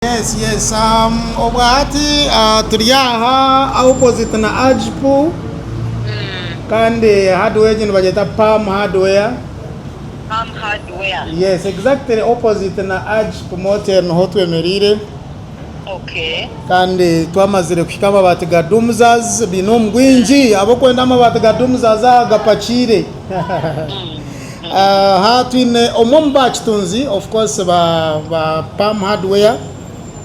Yes yes um, obu hati ah, turi aha opposite na agipu kandi hardware egi nibagyeta palm hardware Palm hardware. yes exactly opposite na agipu motel niho twemereire Okay. kandi twamazire kuhika amabaati ga dumzas biine omu bwingi ab'okwenda amabaati ga dumzas aha gapakiire Aha twine omwe omu baakitunzi of course ba ba Pam Hardware.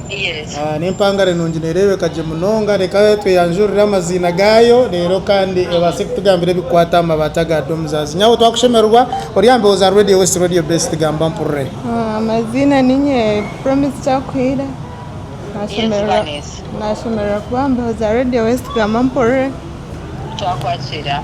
Yes. Ah, n'empangare nungi neereebeka gye munonga reka tweyanjurire amaziina gaayo reero kandi ebaase kutugambira ebikukwata aha mabaati aga domzas nyawe twakushemererwa ori aha mbeho za radio west radio best gamba mpurire Ah, amaziina ninye promise kyakuhire nashemererwa Vanessa. nashemererwa kuba aha mbeho za radio west gamba mpurire Twakwakira.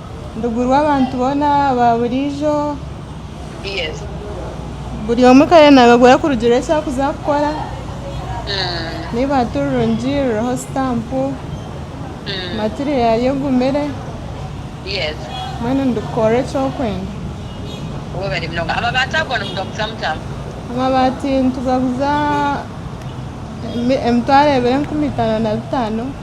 Ndugu rw'abantu boona ba buriijo. Yes. Buri omwe ka yanaabagura kurugiirira eki arikuza kukora. Niba ti rurungi ruriho sitampu, material egumire. Yes. Mbwenu ndikukora eki orikwenda. Webare munonga. Amabaati ago nimugaguza muta? Amabaati nitugaguza emitwaro ebiri enkumi itaano na bitaano.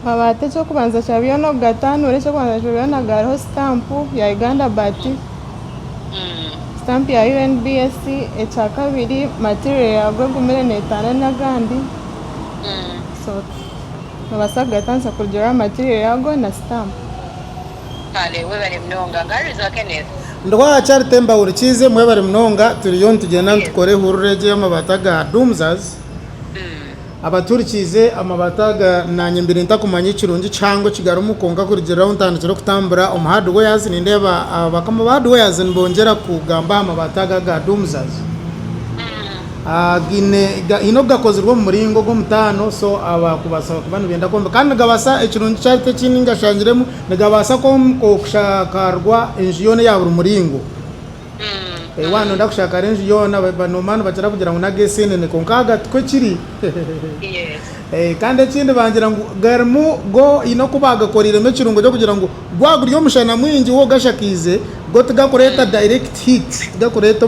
Amabaati eky'okubanza kya byona okugataanura eky'okubanza kya byona gariho sitampu ya Uganda Baati, sitampu ya UNBS, ekyakabiri material yaago egumire neetaana n'agandi so noobaasa kugataanisa kurugiirira aha material yaago na sitampu. Kale webare munonga nkaharirwe Kenneth. Ndi wa charity mbahurikiize mwebare munonga turiyo nitugyenda nitukora ehurura egi ey'amabaati aga doomsers. Abaturikiize amabata aga naanye mbaire ntakumanya ekirungi ekihango ekigarimu kwonka kurugiirira ahu ntandikire kutambura omu hardwares nindeeba abakama ba hardwares nibongyera kugamba aha mabata aga aga Doomsaz againe haine ogu gakozirwe omu muringo ogw'omutaano so abakubaasa kuba nibenda kwombeka kandi nigabaasa ekirungi eki hariho ekindi ngashangiremu nigabaasa kwombeka okashakaarwa enju yoona eya buri muringo. Waaba noyenda kushakara enju yoona noba nibakira kugira ngu n'aga eseenene kwonka aga tikwo kiri kandi ekindi bagira ngu garimu go haine oku baagakoreiremu ekirungo ky'okugira ngu gwaba guri omushana mwingi wo ogashakaize go tigakureeta direct heat tigakureeta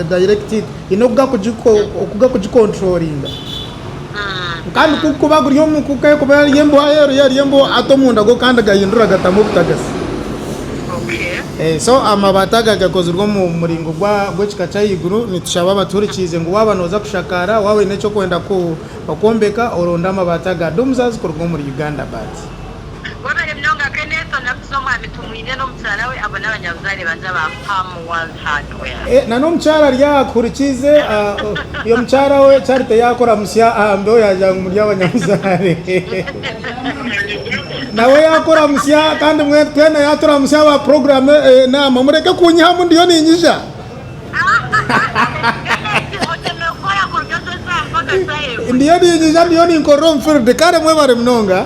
direct heat haine oku gakugikonturoringa. Kandi ku kuba guri omu ku ka ekuba eri embeho aheeru yo eri embeho ata omunda go kandi gahindura gatamu obutagasi. So amabaati aga gakozirwe omu muringo gw'ekika ky'ahaiguru. Nitushaba abatuhurikiize ngu waaba nooza kushakaara, waaba oine eki okwenda kwombeka oronde amabaati aga Doomsaz kuruga omuri Uganda Baati. Webare munonga Kenneth, onaku z'omwami tumwine n'omukyara we abo n'abanyabuzaare bangye aba Palm World. hardware. Eh nana omukyara ari aha kuhurikiize oyo mukyara we charity yakora musya aha mbeho yagira ngu muri abanyabuzaare nawe yakora musya kandi mwena twena yatura musya aba program enamba mureke kunyihamu ndiyo ninyija ndiyo ninyija ndiyo ninkorera omu field kare mwebare munonga.